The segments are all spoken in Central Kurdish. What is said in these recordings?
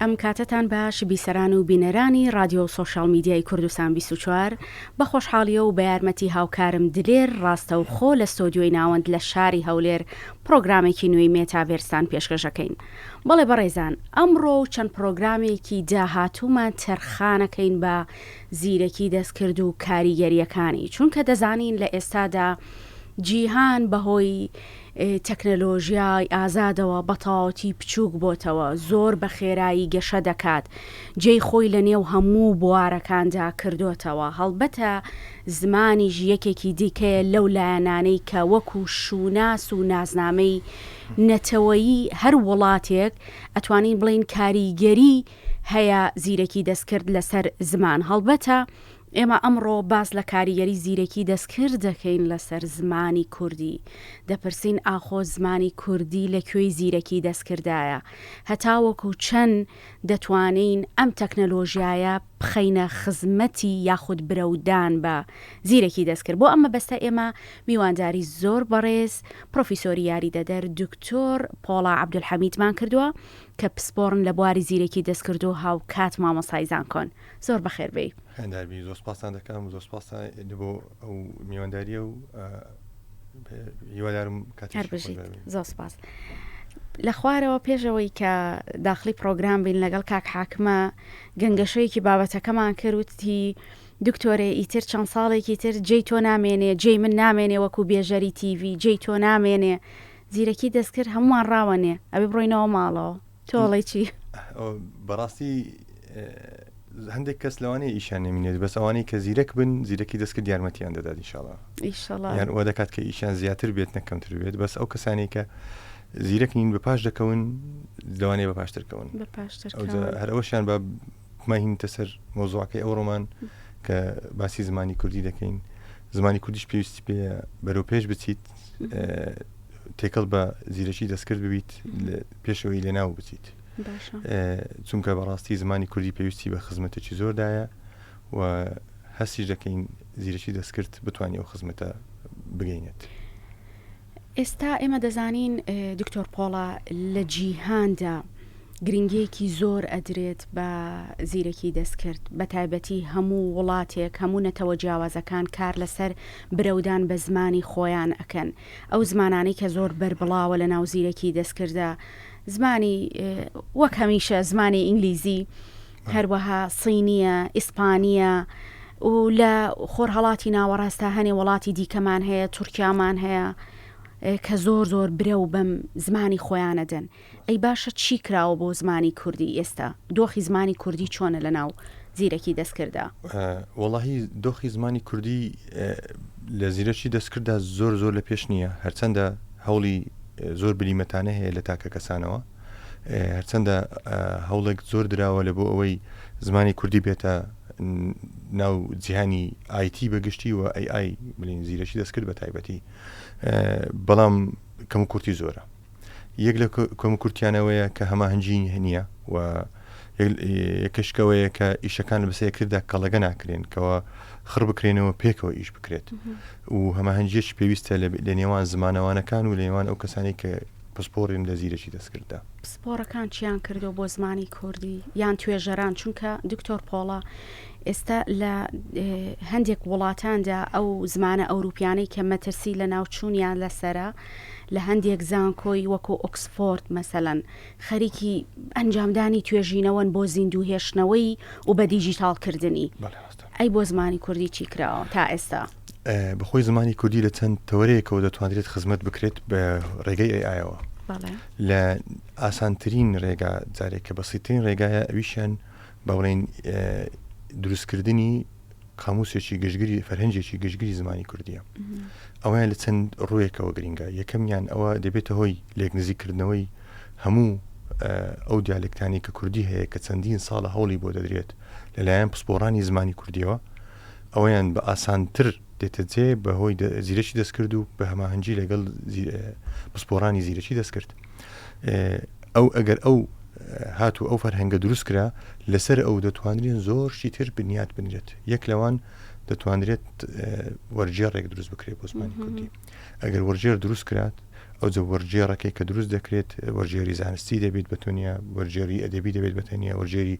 ئەم کاتەتان باش بیسەران و بینەرانی ڕادیۆ و سۆشیاڵ میدیای کوردستان بیست و چوار، بە خۆشحاڵیە و بە یارمەتی هاوکارم دلێر ڕاستەوخۆ لە ستۆدیۆی ناوەند لە شاری هەولێر پڕۆگرامێکی نوێی مێتاڤێرستان پێشکەش ئەکەین. بەڵێ بەڕێزان ئەمڕۆ و چەند پڕۆگرامێکی داهاتوومان تەرخانەکەین بە زیرەکی دەستکرد و کاریگەریەکانی، چونکە دەزانین لە ئێستادا جیهان بەهۆی، تەکنەلۆژیای ئازادەوە بە تەواوەتی بچووک بۆتەوە، زۆر بە خێرایی گەشە دەکات، جێی خۆی لە نێو هەموو بوارەکاندا کردۆتەوە، هەڵبەتە زمانیش یەکێکی دیکەیە لەو لایەنانەی کە وەکو شووناس و ناسنامەی نەتەوەیی هەر وڵاتێک ئەتوانین بڵێین کاریگەری هەیە زیرەکی دەستکرد لەسەر زمان هەڵبەتە ئێمە ئەمڕۆ باس لە کاریگەری زیرەکی دەستکرد دەکەین لەسەر زمانی کوردی. دەپرسین ئاخۆ زمانی کوردی لە کوێی زیرەکی دەستکردایە؟ هەتاوەکو چەند دەتوانین ئەم تەکنەلۆژیایە بخەینە خزمەتی یاخود برەودان بە زیرەکی دەستکرد؟ بۆ ئەم مەبەستە ئێمە میوانداری زۆر بەڕێز پرۆفیسۆری یاریدەدەر دکتۆر پۆڵا عەبدولحەمیدمان کردووە کە پسپۆڕن لە بواری زیرەکی دەستکردو هاوکات مامۆستای زانکۆن. زۆر بەخێر بێی هەنداوی زۆر سپاسان دەکەم زۆر سپاسان بۆ ئەو میوانداریە و هیوادارم کاتبژیت زۆر سپاس. لە خوارەوە پێشەوەی کە داخلی پرۆگرام بین لەگەڵ کاک حاکمە گەنگەشەیەکی بابەتەکەمان کردوتی دکتۆرێ ئیتر چەند ساڵێکی تر جێی تۆ نامێنێ جێی من نامێنێ وەکو بێژەری تیڤ جێی تۆ نامێنێ زیرەکی دەستکرد هەمووان ڕاوەنێ ئەبێ بڕۆینەوە ماڵەوە تۆ ئەڵێی چی؟ ئەو بەڕاستی ئێ، هەندێک کەس لەوانەیە ئیشیان نەمینێت بەس ئەوانەی کە زیرەک بن زیرەکی دەستکرد یارمەتیان دەدات ئیشاڵا ئیشەڵا یان ئەوە دەکات کە ئیشیان زیاتر بێت نە کەمتر بێت بەس ئەو کەسانی کە زیرەک نین بە پاش دەکەون لەوانەیە بە پاشترکەون بە پاشتر ئەوجا هەرەوەشیان بە ماهینتە سەر مۆزوعەکەی ئەو ڕۆمان کە باسی زمانی کوردی دەکەین زمانی کوردیش پێویستی پێ بەرەو پێش بچیت تێکەڵ بە زیرەکی دەستکرد ببیت پێشەوەی لێناو بچیت چونکە بەڕاستی زمانی کوردی پێویستی بە خزمەتێکی زۆردایە و هەستی دەکەین زیرەکی دەستکرد بتوانێت ئەو خزمەتە بگەینێت. ئێستا ئێمە دەزانین دکتۆر پۆڵا لە جیهاندا گرنگیەکی زۆر ئەدرێت بە زیرەکی دەستکرد بە تایبەتی هەموو وڵاتێک هەموو نەتەوە جیاوازەکان کار لەسەر برەودان بە زمانی خۆیان ئەکەن ئەو زمانانەی کە زۆر بەربڵاوە لە ناو زیرەکی دەستکردە زمانی وەک هەمیشە زمانی ئینگلیزی هەروەها صینییە، ئیسپانییە و لە خۆرهەڵاتی ناوەڕاست تا هەنێ وڵاتی دیکەمان هەیە، تورکیامان هەیە کە زۆر زۆر برە و بەم زمانی خۆیانە دەن. ئەی باشە چی کراوە بۆ زمانی کوردی ئێستا؟ دۆخی زمانی کوردی چۆنە لە ناو زیرەکی دەستکرددا؟ وەڵاهی دۆخی زمانی کوردی لە زیرەکی دەستکرددا زۆر زۆر لە پێش نییە، هەرچەندە هەوڵی زۆر بلیمەتانە هەیە لە تاکە کەسانەوە، هەرچەندە هەوڵێک زۆر دراوە لە بۆ ئەوەی زمانی کوردی بێتە ناو جیهانی آیتی بەگشتی و ئەی ئای بلین زیرەکی دەستکرد بە تایبەتی بەڵام کەم و کورتی زۆرە یەک لە کۆم کورتیانەوەیە کە هەماهنگی هەنیە و یەکشکەوەیە کە ئیشەکان بەسە یەکردا کەڵەگە ناکرێن کەەوە خڕ بکرێنەوە پێکەوە ئیش بکرێت و هەماهنگجێکی پێویستە لە نێوان زمانەوانەکان و لە نێوان ئەو کەسانی کە پسپۆڕین لە زیرەکی دەستکرددا. پسپۆڕەکان چیان کردووە بۆ زمانی کوردی یان توێژەران چونکە دکتۆر پۆڵا ئێستا لە هەندێک وڵاتاندا ئەو زمانە ئەوروپیانەی کە مەترسی لە ناوچوونیان لەسرە لە هەندێک زانکۆی وەکو ئۆکسفۆرد مەسەەن خەریکی ئەنجامدانی توێژینەوەن بۆ زیندوو هێشتنەوەی و بە دیجیتاڵکردنی ئەی بۆ زمانی کوردی چی کراوە تا ئێستا بەخۆی زمانی کوردی لە چەند تەوەرەیەکەوە دەتوانرێت خزمەت بکرێت بە ڕێگەی ئەیەوە لە ئاسانترین ڕێگا جارێک کە بەسیترین ڕێگایە ئەویشیان بە بڵێن دروستکردنی قاموسێکی گشتگیری فەرهەنجێکی گشتگیری زمانی کوردیە ئەویان لە چەند ڕوویەکەوە گرنگە یەکەمیان ئەوە دەبێتە هۆی لێک نزیکردنەوەی هەموو ئەو دیالکتانی کە کوردی هەیە کە چەندین ساڵە هەوڵی بۆ دەدرێت لەلایەن پسپۆڕانی زمانی کوردیەوە ئەوەیان بە ئاسانتر دێتە جێ بەهۆی زیرەکی دەستکرد و بە هەماهەنگی لەگەڵ پسپۆڕانی زیرەکی دەستکرد ئەو ئەگەر ئەو هات و ئەو فەرهەنگە دروست کرا لەسەر ئەو دەتوانرێن زۆر شیتر بنیات بنرێت یەک لەوان دەتوانرێت وەرجێڕێک دروست بکرێت بۆ زمانی کوردی ئەگەر وەرجێر دروست کرات ئەو جە وەرجێڕەکەی کە دروست دەکرێت وەرجێری زانستی دەبێت بە تۆنیا وەرجێری ئەدەبی دەبێت بە تەنیا وەرجێری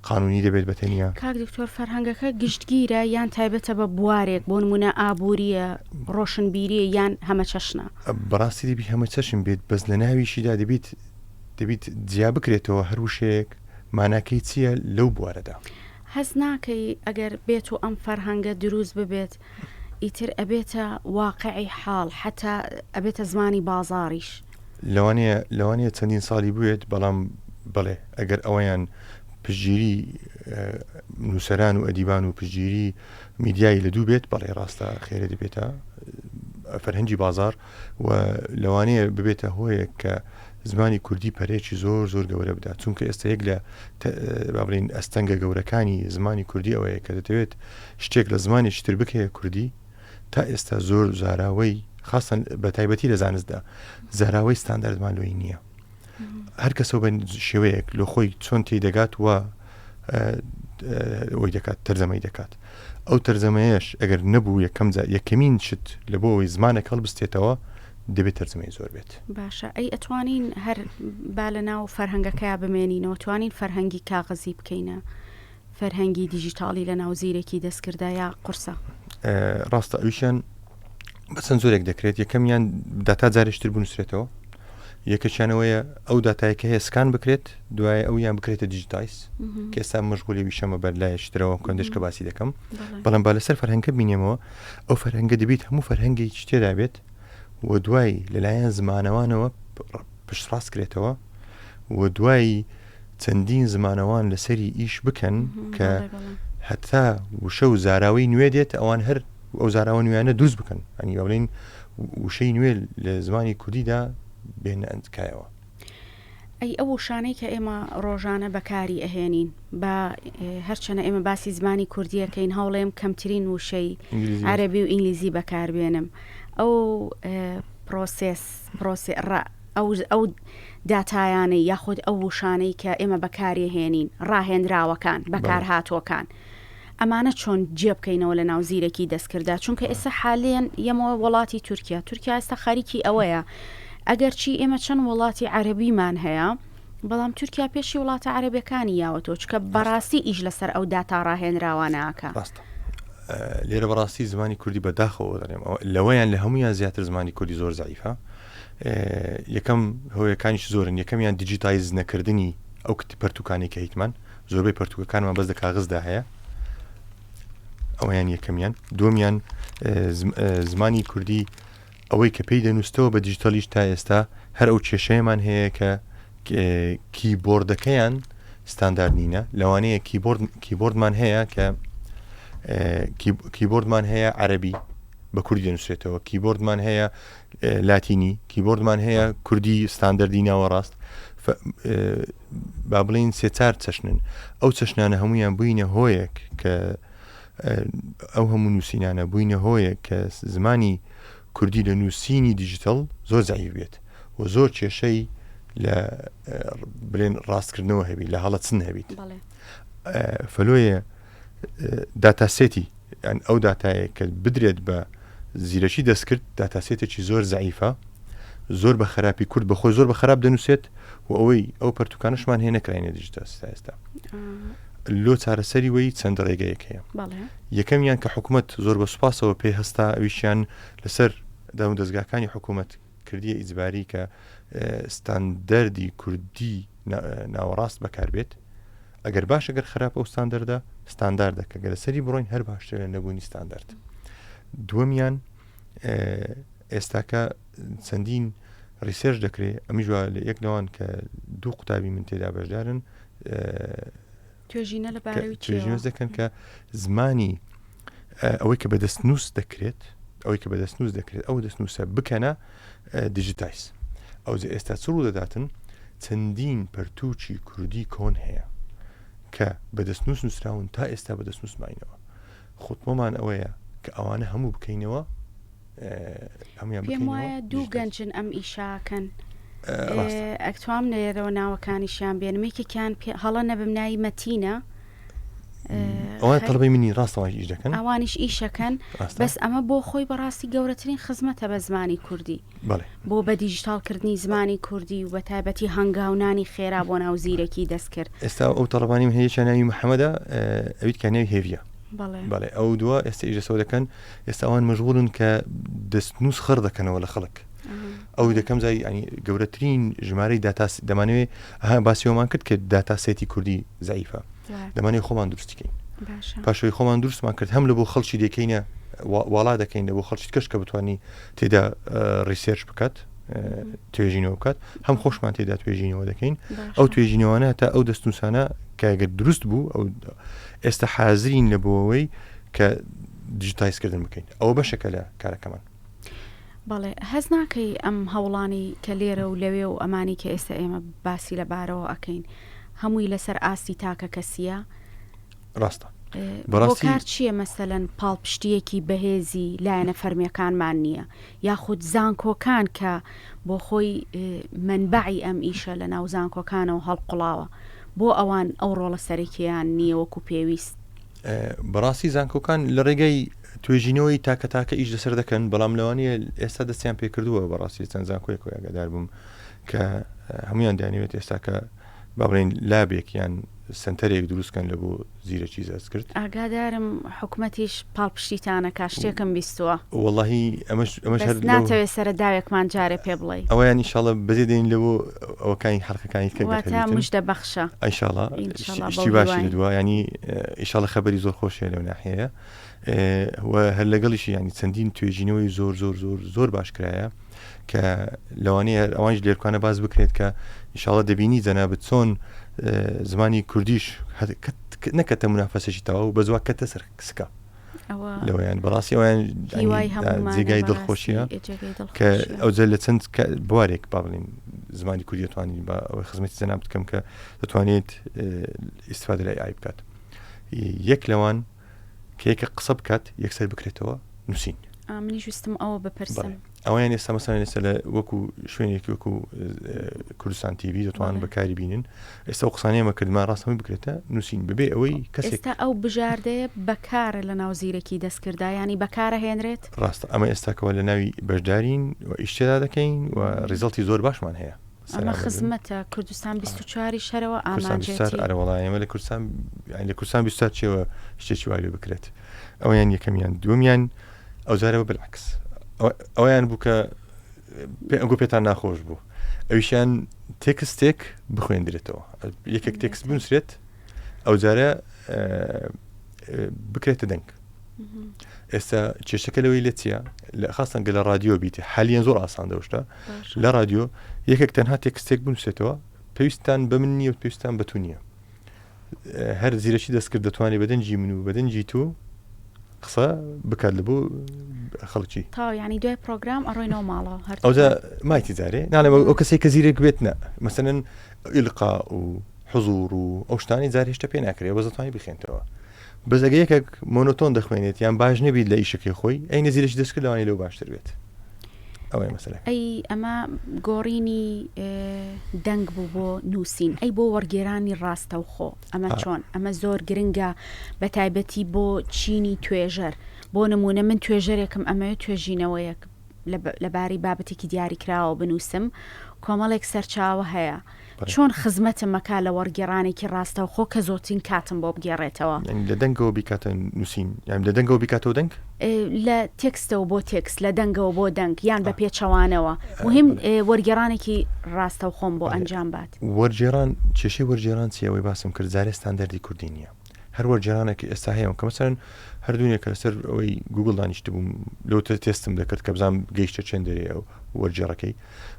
قانونی دەبێت بە تەنیا. کاک دکتۆر فەرهەنگەکە گشتگیرە یان تایبەتە بە بوارێک بۆ نمونە ئابوریە ڕۆشنبیریە یان هەمەچەشنە؟ بەڕاستی دەبی هەمە چەشن بێت بەس لە ناویشیدا دەبیت دەبیت جیا بکرێتەوە هەر وشەیەک ماناکەی چیە لەو بوارەدا. هەست ناکەی ئەگەر بێتو ئەم فەرهەنگە دروست ببێت ئیتر ئەبێتە واقعی حاڵ حەتا ئەبێتە زمانی بازاڕیش. لەوانەیە لەوانەیە چەندین ساڵی بوێت، بەڵام بەڵێ ئەگەر ئەوەیان پشتگیری نووسەران و ئەدیبان و پشتگیری میدیایی لە دوو بێت بەڵێ ڕاستە خێرێ دەبێتە فەرهەنگی بازاڕ. و لەوانەیە ببێتە هۆیەک کە زمانی کوردی پەرەیەکی زۆر زۆر گەورە بدات چونکە ئێستا یەک لە بابلین ئەستەنگە گەورەکانی زمانی کوردی ئەوەیە کە دەتەوێت شتێک لە زمانێکی تر بکەیە کوردی تا ئێستا زۆر زاراوەی خاستن بە تایبەتی لە زانستدا زاراوەی ستانداردمان لۆی نییە هەر کەسەوە بە شێوەیەک لۆ خۆی چۆن تی دەگات و ئەوەی دەکات تەرزەمەی دەکات ئەو تەرزەمەیەش ئەگەر نەبوو یەکەم جا یەکەمین شت لە بۆ ئەوی زمانە کەڵبستێتەوە دەبێت تەرزمەی زۆر بێت باشە ئەی ئەتوانین هەر با لە ناو فەرهەنگەکەیا بمێنینەوە توانین فەرهەنگی کاغەزی بکەینە فەرهەنگی دیجیتاڵی لە ناو زیرەکی دەستکردایە قورسە. ڕاستە ئەویشیان بەچەند زۆرێک دەکرێت یەکەمیان داتا جارشتر بنووسێتەوە یەکەچانەوەیە ئەو دااتایکە هەیە سکان بکرێت دوای ئەو یان بکرێتە دیجیتایس کێستا مشغولی ویشەمە بەر لایشترەوە کندش کە باسی دەکەم بەڵام با لەسەر فەرهەنگە بینێمەوە ئەو فەرهەنگە دەبیت هەموو فەرهەنگی شتێدا بێت و دوای لەلایەن زمانەوانەوە پشتڕاست کرێتەوە و دوایی چەندین زمانەوان لەسەری ئیش بکەن کە هەتا وشە و زاراوەی نوێ دێت ئەوان هەر ئەو زاراوە نوێیانە دروست بکەن ئەنی بڵین وشەی نوێ لە زمانی کوردیدا بێنە ئەندکایەوە ئەی ئەو شانەی کە ئێمە ڕۆژانە بەکاری ئەهێنین بە هەرچەنە ئێمە باسی زمانی کوردیەکەین هەوڵێم کەمترین وشەی عەربی و ئینگلیزی بەکاربێنم ئەو پرۆسس پرۆسێ ڕە ئەو داتایانەی یاخود ئەو وشانەی کە ئێمە بەکاریهێنین، ڕاهێنراوەکان، بەکارهاتووەکان، ئەمانە چۆن جێبکەینەوە لە ناو زیرەکی دەستکرددا، چونکە ئێستا حالیەن یەمەوە وەڵاتی تورکیا، تورکیا ئێستا خەریکی ئەوەیە، ئەگەرچی ئێمە چەند وەڵاتی عەرەبیمان هەیە، بەڵام تورکیا پێشی وڵاتە عەرەبیەکانی یاوەتەوە، چونکە بەڕاستی ئیش لەسەر ئەو داتا ڕاهێنراوانە ئەکا. ڕاستە. لێرە بەڕاستی زمانی کوردی بەداخەوە دەڵێم، لەوەیان لە هەموویان زیاتر زمانی کوردی زۆر زەعیفە، یەکەم هۆیەکانیش زۆرن، یەکەمیان دیجیتایز نەکردنی ئەو کت پەرتووکانەی کە هیتمان، زۆربەی پەرتووکەکانمان بەس لە کاغزدا هەیە، ئەوەیان یەکەمیان، دووەمیان زمانی کوردی ئەوەی کە پێی دەنووسەوە بە دیجیتەلیش تا ئێستا هەر ئەو کێشەیەمان هەیە کە کیبۆردەکەیان ستاندارد نینە، لەوانەیە کیبۆرد کیبۆردمان هەیە کە کیبۆردمان هەیە عەربی بە کوردی دەنووسێتەوە، کیبۆردمان هەیە لاتینی کیبۆردمان هەیە کوردی ستاندەردی ناوەڕاست با بڵین سێ چار چەشنن ئەو چەشنانە هەمویان بووینە هۆیەک کە ئەو هەموو نووسینانە بووینە هۆیەک کە زمانی کوردی لە نووسینی دیجیتەڵ زۆر زعیف بێت و زۆر کێشەی لە بلێن ڕاستکردنەوە هەبی لە هەڵەچن هەبیت فەلۆیە داتاسێتی یان ئەو داتایە کە بدرێت بە زیرەکی دەستکرد داتاسێتێکی زۆر زعیفە زۆر بە خراپی کورد بەخۆی زۆر بە خراپ دەنووسێت و ئەوەی ئەو پرتوکانشمان هەیە نەکراینە دیجتا ئێستا لۆ چارەسەری وی چەند ڕێگەیەک هەیە یەکەمیان کە حکوومەت زۆر بە سوپاسەوە پێ هەستا ئەویشیان لەسەر داون دەستگاکانی حکوومەت کردیە ئیزباری کە ستاندەری کوردی ناوەڕاست بەکار بێت ئەگەر باش ئەگەر خراپ ئەو ستاندەردە ستانداردە کە گەرە سەری بڕۆین هەر باشتر لە نەبوونی ستاندارد دووەمیان ئێستاکە چەندین ریسێرش دەکرێت ئەمیژوا لە یەک لەوان کە دوو قوتابی من تێدا بەشدارن توێژینە لە بارەوی چێوە؟ توێژینەوە دەکەن کە زمانی ئەوەی کە بە دەست نووس دەکرێت ئەوەی کە بە دەست نووس دەکرێت ئەو دەست نووسە بکەنە دیجیتایز ئەو جە ئێستا چ ڕوو دەداتن چەندین پەرتووکی کوردی کۆن هەیە کە بە دەست نووس نووسراون تا ئێستا بە دەست نووسماینەوە خوتمەمان ئەوەیە کە ئەوانە هەموو بکەینەوە هەمویان پێم وایە دوو گەنجن ئەم ئیشاکەن ئەکتوام نەیەرەوە ناوەکانیشیان بێنمێکێکیان هەڵە نەبم ناوی مەتینە ئەوان تەڵبەی منی ڕاستەوەش ئیش دەکەن ئەوانیش ئیشەکەن بەس ئەمە بۆ خۆی بەڕاستی گەورەترین خزمەتە بە زمانی کوردی بەڵێ. بۆ بە دیجیتاڵ کردنی زمانی کوردی و بە تایبەتی هەنگاو نانی خێرا بۆ ناو زیرەکی دەستکرد. ئێستا ئەو تەڵەبانیم هەیە یەکیان ناوی محەمەدە ئەویت کە ناوی هێڤیە. بەڵێ. بەڵێ ئەو دووە ئێستا ئیش لەسەوە دەکەن ئێستا ئەوان مەژغوڵن کە دەستنووس خڕ دەکەنەوە لە خەڵک. ئەو دەکەم زای ینی گەورەترین ژمارەی داتاس دەمانوێ ها باسیەوەمان کرد کرد داتاسێتی کوردی زعیفە دەمانێ خۆمان دروستیکەین پاشەوەی خۆمان دروستمان کرد هەم لە بۆ خەڵکی دەکەینە واڵا دەکەین لە بۆ خەڵکی کەش کە بتوانانی تێدا ڕیسێرچ بکات توێژینەوە بکات هەم خۆشمان تێدا توێژینەوە دەکەین ئەو توێژینەوەە تا ئەو دەستنووسانە کاگە دروست بوو ئەو ئێستا حازرین لە بۆەوەی کە دیجیتایزکردن بکەین ئەوە بەشەکە لە کارەکەمان بەڵێ هەز ناکەی ئەم هەوڵانی کە لێرە و لەوێ و ئەمانی کە ئێستا ئێمە باسی لە بارەوە ئەەکەین هەمووی لەسەر ئاستی تاکە کەسیە ڕاستە بەڕاستی کار چییە مەسەەن پاڵپشتیەکی بەهێزی لایەنە فەرمیەکانمان نییە یاخود زانکۆکان کە بۆ خۆی منبعی ئەم ئیشە لە ناو زانکۆکانەوە هەڵقڵاوە بۆ ئەوان ئەو ڕۆڵە سەرەکییان نییە وەکو پێویست بەڕاستی زانکۆکان لە ڕێگەی توێژینەوەی تاکە تاکە ئیش لەسەر دەکەن بەڵام لەوانەیە ئێستا دەستیان پێکردووە بەڕاستی چەند زانکۆیەکەوە یاگەدار بووم کە هەمویان دانیوێت ئێستاکە با بڵێین لابێک یان سەنتەرێک دروست کەن لەبۆ زیرەکی زەستکرد. ئاگادارم حکومەتیش پاڵپشتیتان ئەکا شتێکم بیستووە. وەڵاهی ئەمەش ئەمەش هەر بەس لەو ناتەوێ سەرە داوێکمان جارێ پێ بڵێی. ئەوەیان ان شاءاللە بەجێ دێنین لەبۆ ئەوەکانی حەلقەکانی تکە گەر واتە هەبیتن. مژدە بەخشە. ان شاءاللە ان شاءاللە شتی بەو شتی باشی هیوایە. لەدوا یانی ان شاءاللە خەبەری زۆر خۆشیە لەو ناحیەیە. و هەر لەگەڵیشی یانی چەندین توێژینەوەی زۆر زۆر زۆر زۆر باش کرایە کە لەوانەیە هەر ئەوانش لێرکانە باز بکرێت کە ئیشاڵە دەبینی جەنابەت چۆن زمانی کوردیش نەکەتە منافەسەشی تەواو بە زوا کەتە سەر سکە لەوەیان بەڕاستی ئەویان جێگای دڵخۆشیە کە ئەوجە لە چەند بوارێک با بڵین زمانی کوردی توانین بە ئەوەی خزمەتی زەنام بکەم کە دەتوانێت ئیسفادرای ئای بکات یەک لەوان کە یەکە قسە بکات یەکسەر بکرێتەوە نووسین منیش وستم ئەوە بپرسم ئەویان ئێستا مەسان ئێستا لە وەکو شوێنێکی وەکو کوردستان تیوی دەتوان بەکاری بینن ئێستا و قسانەیەمە کردمان ڕاستەمی بکرێتە نووسین ببێ ئەوەی کەسێکتا ئەو بژاردەیە بەکارە لە ناو زیرەکی دەستکردایانی بەکارە هێنرێت ڕاستە ئەمە ئێستاکەەوە لە ناوی بەشدارین و ئیشتێدا دەکەین و ریزڵتی زۆر باشمان هەیە ئەمە خزمەتە کوردستان 24 ی شەرەوە ئامانجێتی ئەرەوەڵا ئێمە لە کوردستان لە کوردستان 24 چێوە شتێکی واێ بکرێت ئەویان یەکەمیان دومیان ئەوزارەوە بلعکس ئەویان بوو کە ئەگو پێتان ناخۆش بوو ئەویشیان تێکستێک بخوێندرێتەوە یەکێک تێکست بنووسرێت ئەوجارە بکرێتە دەنگ ئێستا کێشەکە لەوەی لە چیە لە خاستان گە لە رادیۆ بیت حالیان زۆر ئاسان دەشتا لە رادیۆ یەکێک تەنها تێکستێک بنووسێتەوە پێویستان بە من نیە و پێویستان بەتو نییە هەر زیرەکی دەستکرد دەتوانێت بەدەنجی من و بەدەنجی تو قسە بکات لە بۆ خەڵکی تا ینی دوای پرۆگرام ئەڕۆینەوە ماڵەوە هەر ئەودا مایتی جارێ ناڵێ ئەو کەسی کە زیرێک بێت نە مەسەن ئیلقا و حزور و ئەو شتانی جار هێشتا پێ ناکرێت وەزتانی بخێنتەوە بەس ئەگە یەکێک مۆنۆتۆن دەخوێنێت یان باش نەبیت لە ئیشەکەی خۆی ئەی نەزیرەی دەست کرد لەوانی لەو باشتر بێت ئەوەی مەسەلە ئەی ئەمە گۆڕینی دەنگ بوو بۆ نووسین ئەی بۆ وەرگێرانی ڕاستەوخۆ ئەمە چۆن ئەمە زۆر گرنگە بە تایبەتی بۆ چینی توێژەر بۆ نمونە من توێژەرێکم ئەمەوێت توێژینەوەیەک لەبارەی بابەتێکی دیاری کراوە بنووسم کۆمەڵێک سەرچاوە هەیە چۆن خزمەتم ئەکا لە وەڕگێڕانێکی ڕاستەوخۆ کە زۆترین کاتم بۆ بگێڕێتەوە؟ لە دەنگەوە بیکاتە نووسین یان لە دەنگەوە بیکاتەوە دەنگ؟ لە تێکستەوە بۆ تێکست، لە دەنگەوە بۆ دەنگ یان بە پێچەوانەوە، موهیم وەرگێڕانێکی ڕاستەوخۆم بۆ ئەنجام بات. وەرگێڕان، کێشەی وەرگێڕان چیە؟ ئەوەی باسم کرد جارێ ستاندەردی کوردی نیە. هەر وەرگێرانێک کە ئێستا هەیەم کە مەسەن هەردوونێکە لەسەر ئەوەی گوگل دانیشتبووم لەو تر تێستم دەکرد کە بزانام گەیشتە چێن دەرێ ئەو وەرجێڕەکەی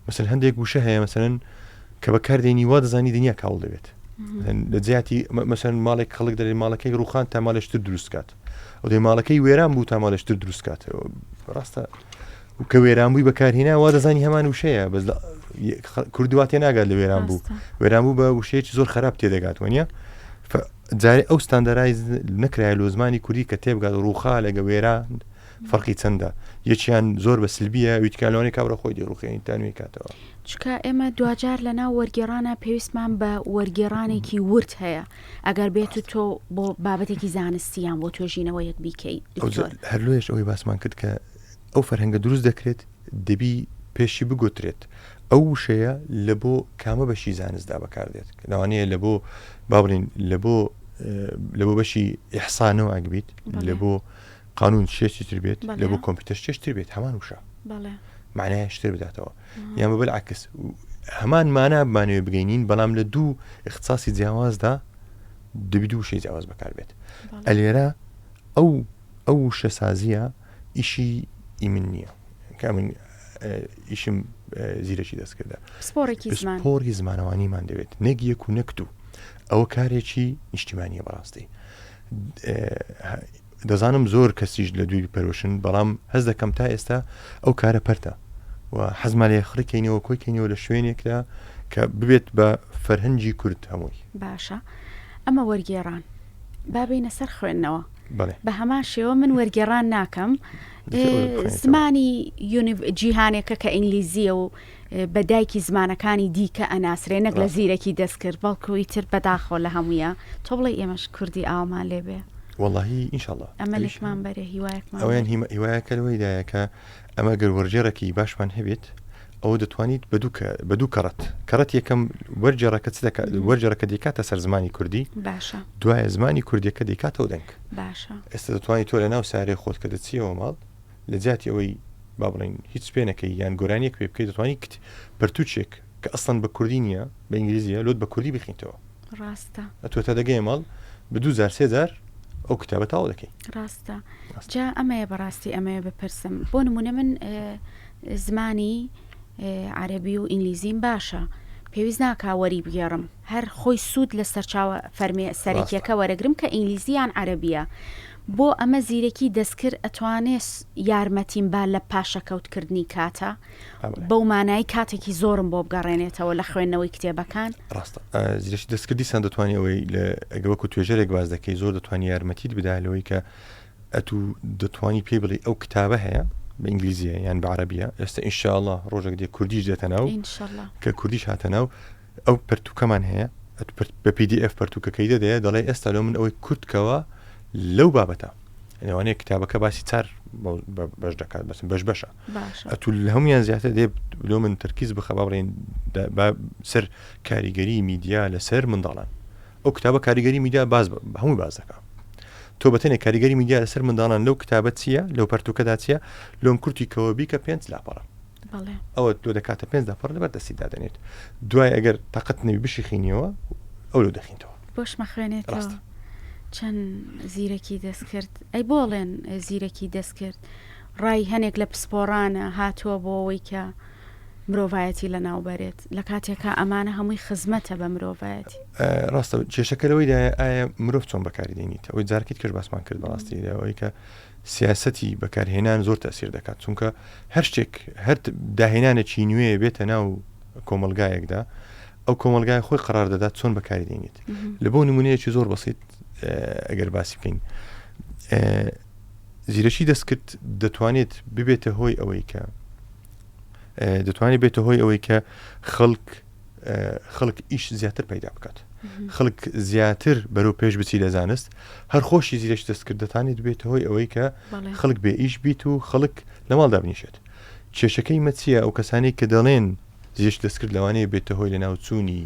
مەسن هەندێک گوشە هەیە مەسەن کە بەکاردێنی وا دەزانی دنیا کاول دەبێت لە جیاتی مەسەن ماڵێک خەڵک دەێ ماڵەکەی ڕوخان تا مالشتر دروستکات ئەو دەی ماڵەکەی وێران بوو تا مالشتر دروستکات ڕاستە و کە وێران بووی بەکارهینا وا دەزانی هەمان وشەیە بەس کردووا تێ ناگات لە وێران بوو وێران بوو بە وشەیەکی زۆر خراپ تێدەگات وەنیە جارێ ئەو ستاندەرای نەکرای لۆ زمانی کوردی کە تێبگات ڕووخا لەگە وێرا فەرقی چەندە یەکیان زۆر بە سلبیە ویتکالوانی کابرا خۆی دی ڕوخێنی تانوی کاتەوە چکە ئێمە دوجار لە ناو وەرگێڕانە پێویستمان بە وەرگێڕانێکی ورد هەیە ئەگەر بێت و تۆ بۆ بابەتێکی زانستیان بۆ توێژینەوە یەک بیکەیت هەرلوێش ئەوەی باسمان کرد کە ئەو فەرهەنگە دروست دەکرێت دەبی پێشی بگوترێت ئەو وشەیە لە بۆ کامە بەشی زانستدا بەکاردێت لەوانەیە لە بۆ باڵین لە بۆ لە بۆ بەشی ئحسانەوە ئەگبیت لە بۆ قانون شێشتی تر بێت لە بۆ کۆمپیوتەر شێشتر بێت هەمان وشە معناە شتر بداتەوە یان بەبل عکس هەمان مانا بمانەوە بگەینین بەڵام لە دوو اختصاسی جیاوازدا دەبی دوو شێ جیاواز بەکار بێت ئەلێرە ئەو ئەو شەسازیە ئیشی ی من نییە کە من ئیشم زیرەکی دەستکردە پسپۆڕێکی زمان پۆڕی زمانەوانیمان دەوێت نەک یەک و نەکت و ئەوە کارێکی نیشتیمانیە بەڕاستی دەزانم زۆر کەسیش لە دووی پەرۆشن بەڵام هەز دەکەم تا ئێستا ئەو کارە پەرتە و حەزمان لێ خڕکەینەوە کۆیکەینەوە لە شوێنێکدا کە ببێت بە فەرهەنگی کورد هەمووی باشە ئەمە وەرگێڕان بابینە سەر خوێندنەوە بە هەمان شێوە من وەرگێڕان ناکەم زمانی جیهانێکە کە ئینگلیزیە و بە دایکی زمانەکانی دیکە ئەناسرێ نەک لە زیرەکی دەستکرد بەڵکوی تر بەداخۆ لە هەمویە تۆ بڵێ ئێمەش کوردی ئاومان لێبێ واللهی ئینشاءله ئەمەشمان بەرە هیوایەکمان ئەویان هیوایەکەەوەیدایەکە ئەمە گەر وەرجێڕێکی باشمان هەبێت ئەوە دەتوانیت بە دوو کە بە دوو کەڕەت کەڕەت یەکەم وەرجێڕەکە چ دەکات مم. وەرجێڕەکە دەکاتە سەر زمانی کوردی باشە دوایە زمانی کوردیەکە دەکاتەوە دەنگ باشە ئێستا دەتوانانی تۆ لە ناو سارێ خۆت کە دەچیەوە ماڵ لە جیاتی ئەوەی با بڵین هیچ پێ نەکەی یان گۆرانیەک پێ بکەیت دەتوانانی کت پەرتوچێک کە ئەسڵەن بە کوردی نییە بە ئینگلیزیە لۆت بە کوردی بخینتەوە ڕاستە ئەتوە تا دەگەی ماڵ بە دوو جار سێ جار ئەو کتابە تاو دەکەی ڕاستە جا ئەمەیە بەڕاستی ئەمەیە بپرسم بۆ نمونە من زمانی عەربی و ئینگلیزیم باشە پێویست ناکا وەری بگێڕم هەر خۆی سوود لە سەرچاوە فەرمێ سەرەکیەکە وەرەگرم کە ئینگلیزیان عەربیە بۆ ئەمە زیرەکی دەستکرد ئەتوانێت یارمەتیم با لە پاشەکەوتکردنی کاتە بەو مانای کاتێکی زۆرم بۆ بگەڕێنێتەوە لە خوێندنەوەی کتێبەکان ڕاستە زیرش دەستکرد دیسان دەتوانانی ئەوەی لە ئەگەوەکو توێژەرێک باز دەکەی زۆر دەتوانانی یارمەتیت بدا لەوەی کە ئەتو دەتوانی پێی بڵی ئەو کتابە هەیە بە ئینگلیزیە یان بە عربیە ئێستا ئینشاءله ڕۆژێک دێ کوردیش دێتە ناو کە کوردیش هاتە ناو ئەو پرتوکەمان هەیە بە PDF پرتوکەکەی دەدەیە دەڵێ ئێستا لە من ئەوەی کورتکەوە لەو بابەتە لەوانەیە کتابەکە باسی چار بەش دەکات بەسم بەش بەشە ئەتو لە هەمویان زیاتر دێ لۆ من تەرکیز بخە باڵێن سەر کاریگەری میدیا لەسەر منداڵان ئەو کتابە کاریگەری میدیا باز هەموو باز دەکە تۆ بەتەنێک کاریگەری میدیا لەسەر منداڵان لەو کتابە چییە لەو پەرتوکەدا چیە لۆم کورتی کەەوە بیکە پێنج لاپەڕە ئەوە تۆ دەکاتە پێنج لاپەڕ لەبەر دەستی دادێنێت دوای ئەگەر تاقەت نەوی بشیخینیەوە ئەو لە دەخینەوە بۆشمە خوێنێت ڕاست. چەند زیرەکی دەست کرد ئەی بۆڵێن زیرەکی دەست کرد ڕای هەنێک لە پسپۆڕانە هاتووە بۆ ئەوەی کە مرۆڤایەتی لەناو بەرێت، لە کاتێکا ئەمانە هەمووی خزمەتە بە مرۆڤایەتی. ڕاستە کێشەکە لەوەیدایە ئایا مرۆڤ چۆن بەکاری دێنیت؟ ئەوەی جارەکی تکەش باسمان کرد بەڕاستی ئەوەی کە سیاسەتی بەکارهێنان زۆر تەئسیر دەکات چونکە هەر شتێک هەر داهێنانێکی نوێ بێتە ناو کۆمەلگایەکدا ئەو کۆمەلگای خۆی قرار دەدات چۆن بەکاری دێنیت لە بۆ نمونەیەکی زۆر بەسیت ئەگەر باسی بکەین زیرەکی دەستکرد دەتوانێت ببێتە هۆی ئەوەی کە دەتوانێت بێتە هۆی ئەوەی کە خەڵک خەڵک ئیش زیاتر پەیدا بکات خەڵک زیاتر بەرەو پێش بچی لە زانست هەر خۆشی زیرەش دەستکردەتانێت بێت هۆی ئەوەی کە خەڵک بێ ئیش بیت و خەڵک لە ماڵ دابنیشێت کێشەکەی مەچیە ئەو کەسانی کە دەڵێن زیش دەستکرد لەوانەیە بێتە هۆی لە ناوچوونی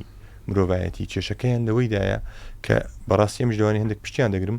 مرۆڤایەتی کێشەکەیان لەوەیدایە کە بەڕاستی ئەمش لەوانی هەندێک پشتیان دەگرم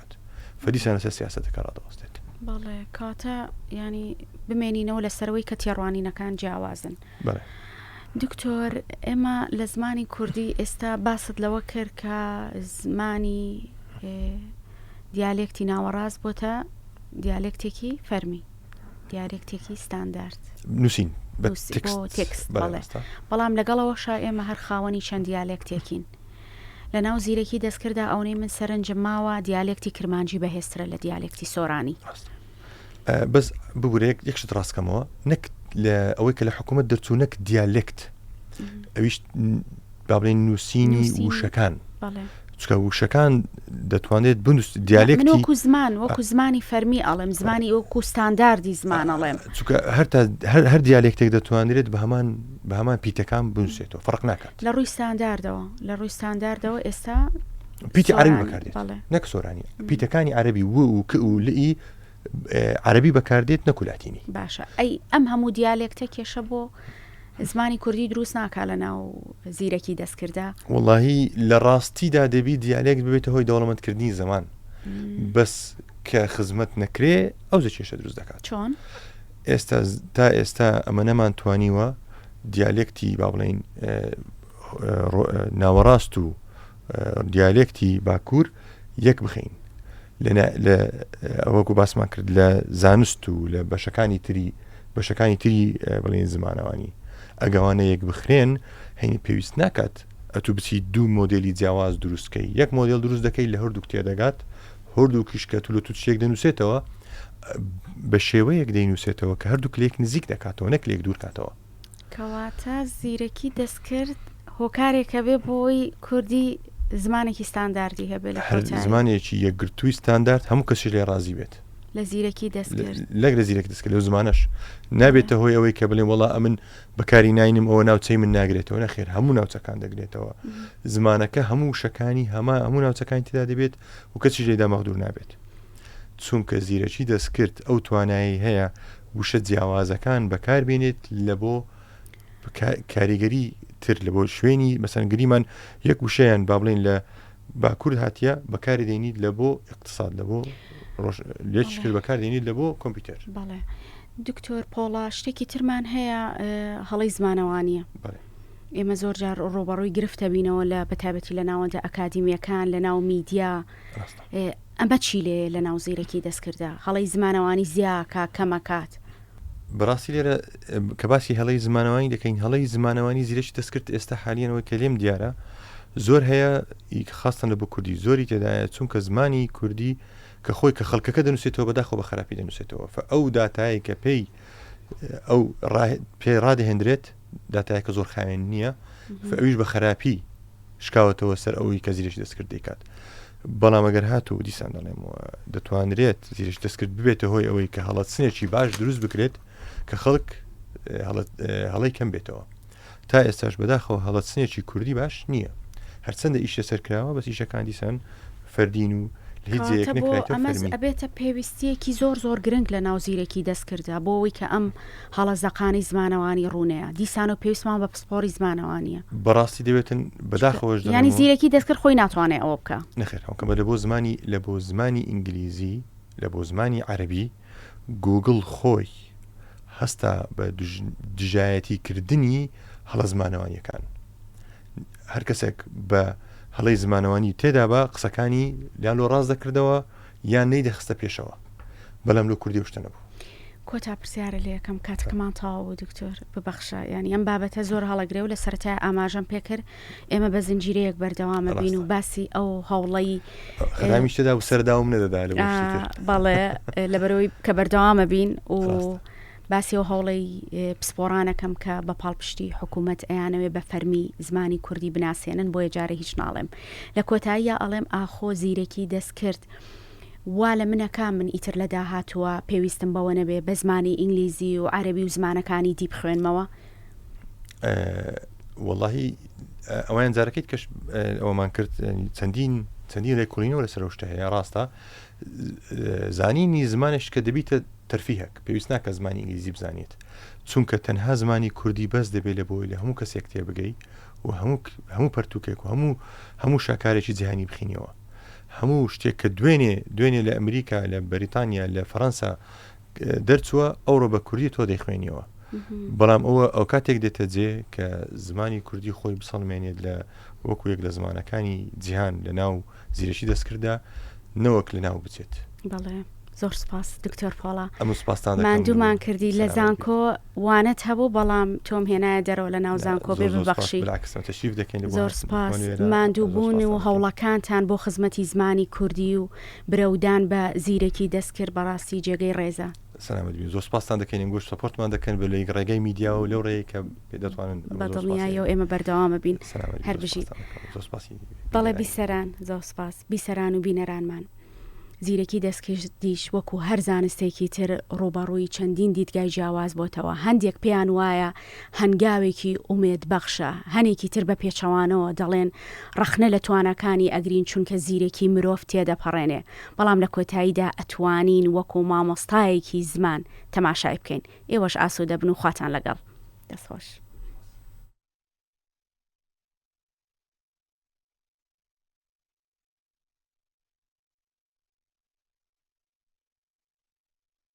بکات و دیسان لەسەر سیاسەتەکە ڕادەوەستێت. بەڵێ کاتە یانی بمێنینەوە لەسەرەوەی کە تێڕوانینەکان جیاوازن. بەڵێ. دکتۆر ئێمە لە زمانی کوردی ئێستا باست لەوە کرد کە زمانی دیالێکتی ناوەڕاست بۆتە دیالێکتێکی فەرمی دیارێکتێکی ستاندارد نووسین تێکست بەڵام لەگەڵەوە شا ئێمە هەر خاوەنی چەند دیالێکتێکین لەناو زیرەکی دەستکرددا ئەونەی من سەرنجم ماوە دیالێکتی کرمانجی بەهێزترە لە دیالێکتی سۆرانی. بەس ببورێک یەک شت ڕاستکەمەوە نەک لە ئەوەی کە لە حکوومەت دەرچوو نەک دیالێکت ئەویش با بڵێن نووسینی نووسینی. وشەکان بەڵێ. چکە وشەکان دەتوانێت بنووس من دیالێکتی وەکو زمان وەکو زمانی فەرمی ئەڵێم زمانی وەکو ستانداردی زمان ئەڵێم. چونکە هەر تا هەر هەر دیالێکتێک دەتوانرێت بە هەمان بە هەمان پیتەکان بنوسرێتەوە فەرق ناکات. لە ڕووی ستانداردەوە لە ڕووی ستانداردەوە ئێستا پیتی عربی سۆرانی، بەکاردێت بەڵێ. نەک سۆرانی پیتەکانی عربی و و ک و لئی ئێ، عربی بەکاردێت نەکو لاتینی. باشە ئەی ئەم هەموو دیالێکتە کێشە بۆ زمانی کوردی دروست ناکا لە ناو زیرەکی دەستکرددا؟ وەڵاهی لە ڕاستیدا دەبی دیالێکت ببێتە هۆی دەوڵەمەندکردنی زمان بەس کە خزمەت نەکرێ ئەوجە کێشە دروست دەکات. چۆن؟ ئێستا تا ئێستا ئەمە نەمانتوانیوە دیالێکتی با بڵین ناوەڕاست و دیالێکتی باکوور یەک بخین ئەوەکو باسمان کرد لە زانست و لە بەشەکانی تری بەشەکانی تری بڵێن زمانەوانی ئەگەوانە یەک بخرێن هەینی پێویست ناکات ئەتو بچی دوو مۆدێلی جیاواز دروست کەی یەک مۆدێل دروست دەکەی لە هەردووک تێدەگات هەردووکیش کە تولە تو چێک دەنووسێتەوە بە شێوەیەک دەینووسێتەوە کە هەردوو کلێک نزیک دەکاتەوە نەک لێک دوورکاتەوە کەواتە زیرەکی دەستکرد هۆکارێکە بێ بۆی کوردی زمانێکی ستانداردی هەبێت لە هەر زمانێکی یەکگرتووی ستاندارد هەموو کەسی لێ ڕازی بێت لە زیرەکی دەست لەگرە زیرەک دەست لەو زمانش نابێتە هۆی ئەوەی کە بڵێ وڵا ئەمن بەکاری ناینم ئەوە ناوچەی من ناگرێتەوە نەخێر هەموو ناوچەکان دەگرێتەوە زمانەکە هەموو شەکانی هەما هەموو ناوچەکان تدا دەبێت و کەچی لێدا مەغدور نابێت چونکە زیرەکی دەستکرد ئەو توانایی هەیە وشە جیاوازەکان بەکاربێنێت لە بۆ کاریگەری تر لە بۆ شوێنی مەسەنگریمان یەک وشەیان با بڵین لە با کورد هاتیە بەکاری دەینیت لە بۆ اقتصاد لە بۆ ڕۆژ لێچ کرد بەکار دەینیت لە بۆ کۆمپیوتەر بەڵێ دکتۆر پۆڵا شتێکی ترمان هەیە هەڵی زمانەوانیە بەڵێ ئێمە زۆر جار ڕۆبەڕووی گرفتە بینەوە لە بەتابەتی لە ناوەندە ئەکادیمیەکان لە ناو میدیا ئەمە چی لێ لە ناو زیرەکی دەستکردە هەڵی زمانەوانی زیاکە کەمەکات بەڕاستی لێرە کە باسی هەڵی زمانەوانی دەکەین هەڵی زمانەوانی زیرەکی دەستکرد ئێستا حالیانەوەی کە لێم دیارە زۆر هەیە خاستن لە بۆ کوردی زۆری تێدایە چونکە زمانی کوردی کە خۆی کە خەڵکەکە دەنووسێتەوە بەداخۆ بە خراپی دەنووسێتەوە ئەو داتایی کە پێی ئەو پێڕادهێنرێت داتایە کە زۆر خاوێن نییە ئەویش بە خراپی شکاوەتەوە سەر ئەوەی کە زیرش دەستکرد دەکات بەڵام ئەگەر هاتوو دیسان دەڵێمەوە دەتوانرێت زیرش دەستکرد ببێتە هۆی ئەوەی کە هەڵەت سنێکی باش دروست بکرێت کە خەڵک هەڵی کەم بێتەوە تا ئێستاش بەداخەوە هەڵەت سنێکی کوردی باش نییە هەرچەندە ئیشە سەرکراوە بەس ئیشەکان دیسان فەردین و ئەبێتە پێویستیەکی زۆر زۆر گرنگ لە ناو زیرەکی دەستکردە بۆەوەی کە ئەم هەڵە زەقانی زمانەوانی ڕوونەیە دیسانەو پێویستمان بە پسپۆڕی زمانەوانیە. بەڕاستی دەوێتن بەداخەوەش دەڵێمەوە. یانی زیرەکی دەستکرد خۆی ناتوانێ ئەوە بکا. نەخێر ئەو کەمە لەبۆ زمانی لەبۆ زمانی ئینگلیزی لەبۆ زمانی عەرەبی گووگڵ خۆی هەستا بە دژایەتی کردنی هەڵە زمانەوانیەکان هەرکەسێک بە هەڵەی زمانەوانی تێدابا قسەکانی لالۆ ڕاست دەکردەوە. یان نەیدەخستە پێشەوە بەلام لۆ کوردی ئەو شتە نەبوو. کۆتا پرسیارە لە یەکەم کاتەکەمان تەواو بوو دکتۆر ببەخشە یانی ئەم بابەتە زۆر هەڵەگرێ و لە سەرەتای ئاماژەم پێکرد ئێمە بە زنجیرەیەک بەردەوامە بین و باسی ئەو هەوڵەی خرامیشتدا و سەرداوم نەدەدا بەڵێ لەبەرەوەی کە بەردەوامە بین و باسی ئەو هەوڵەی پسپۆڕانەکەم کە بە پاڵپشتی حکوومەت ئەیانەوێ بە فەرمی زمانی کوردی بناسێنن بۆیە جارێ هیچ ناڵێم. لە کۆتاییا ئەڵێم ئاخۆ زیرەکی دەستکرد وا لە منە کا من ئیتر لە داهاتووە پێویستم بەوە نەبێ بە زمانی ئینگلیزی و عەرەبی و زمانەکانی دی بخوێنمەوە؟ وەڵاهی ئەوەیان جارەکەیت کەش ئەوەمان کرد چەندین چەندین لێکوڵینەوە لەسەر ئەو شتە هەیە ڕاستە زانینی زمانێک کە دەبیتە تەرفیهک پێویست ناکە زمانی ئینگلیزی بزانێت چونکە تەنها زمانی کوردی بەس دەبێت لە بۆی لە هەموو کەسێک تێبگەی و هەموو هەموو پەرتوکێک و هەموو هەموو شاکارێکی جیهانی بخینەوە هەموو شتێک کە دوێنێ دوێنێ لە ئەمریکا لە بەریتانیا لە فەەنسا دەرچووە ئەوڕۆ بە کوردی تۆ دەیخوێنیەوە بەڵام ئەوە ئەو کاتێک دێتە جێ کە زمانی کوردی خۆی بسەڵمێنێت لە وەکو یەک لە زمانەکانی جیهان لە ناو زیرەکی دەستکردە نەوەک لە ناو بچێت. بەڵێ زۆر سپاس دکتۆر پۆڵا ئەم سپاستان ماندوومان کردی لە زانکۆ وانەت هەبوو بەڵام تۆم هێنایە دەرەوە لە ناو زانکۆ بێ ببەخشی تەشریف دەکەین زۆر سپاس ماندووبوون و هەوڵەکانتان بۆ خزمەتی زمانی کوردی و برەودان بە زیرەکی دەستکرد بەڕاستی جێگەی ڕێزە. سەلامەت بی زۆر سپاستان دەکەین ئەنگۆش سپۆرتمان دەکەن بە لەیک ڕێگەی میدیا و لەو ڕێی کە دەتوانن بەدڵنیایی و ئێمە بەردەوامە بین هەر بژی بەڵێ بیسەران زۆر سپاس بیسەران و بینەرانمان زیرەکی دەستکش دیش وەکو هەر زانستێکی تر ڕوبەڕووی چەندین دیدگای جیاواز بۆتەوە هەندێک پێیان وایە هەنگاوێکی ئومێد بەخشە. هەنێکی تر بە پێچەوانەوە دەڵێن ڕەخنە لە تواناکانی ئەگرین چونکە زیرەکی مرۆڤ تێدەپەڕێنێ بەڵام لە کۆتاییدا ئەتوانین وەکو مامۆستایەکی زمان تەماشای بکەین. ئێوەش ئاسوودە بن و خواتان لەگەڵ. دەست خۆش.